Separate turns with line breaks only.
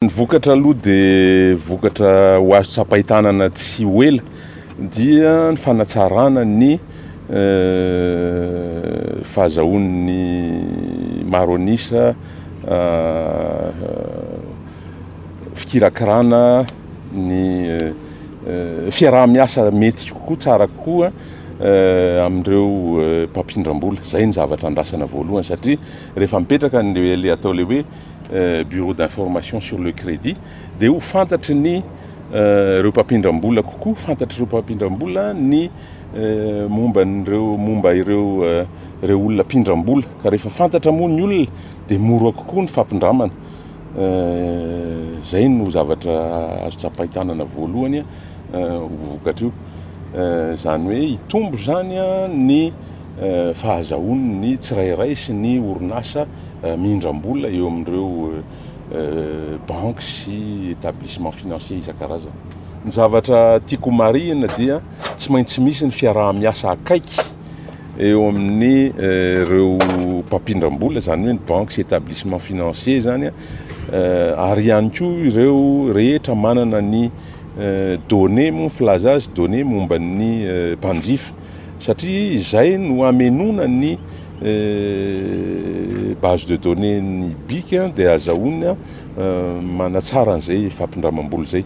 Ny vokatra aloha dia vokatra ho azo tsapain-tanana tsy ho ela dia ny fanatsarana ny fahazahoan'ny maro an'isa fikirakirana ny fiaraha-miasa mety kokoa, tsara kokoa amin'ireo mpampindram-bola. Izay no zavatra andrasana voalohany satria rehefa mipetraka ilay atao ilay hoe Bureau d'information sur le crédit, dia ho fantatry ny ireo mpampindram-bola kokoa, fantatr'ireo mpampindram-bola ny momba an'ireo momba ireo ireo olona mpindram-bola, ka rehefa fantatra moa ny olona dia mora kokoa ny fampindramana. Izay no zavatra azo tsapain-tanana voalohany ho vokatry io. Izany hoe hitombo izany ny fahazahoan' ny tsirairay sy ny orinasa mihindram-bola eo amin' ireo banky sy établissements financiers isan-karazany. Ny zavatra tiako homarihina dia tsy maintsy misy ny fiaraha-miasa akaiky eo amin' ireo mpampindram-bola, izany hoe ny banky sy établissements financiers izany, ary ihany koa ireo rehetra manana ny données, moa ny filaza azy, données momba ny mpanjifa. Satria izay no hamenoana ny base de données ny bic dia azahoany manatsara an'izay fampindramam-bola izay.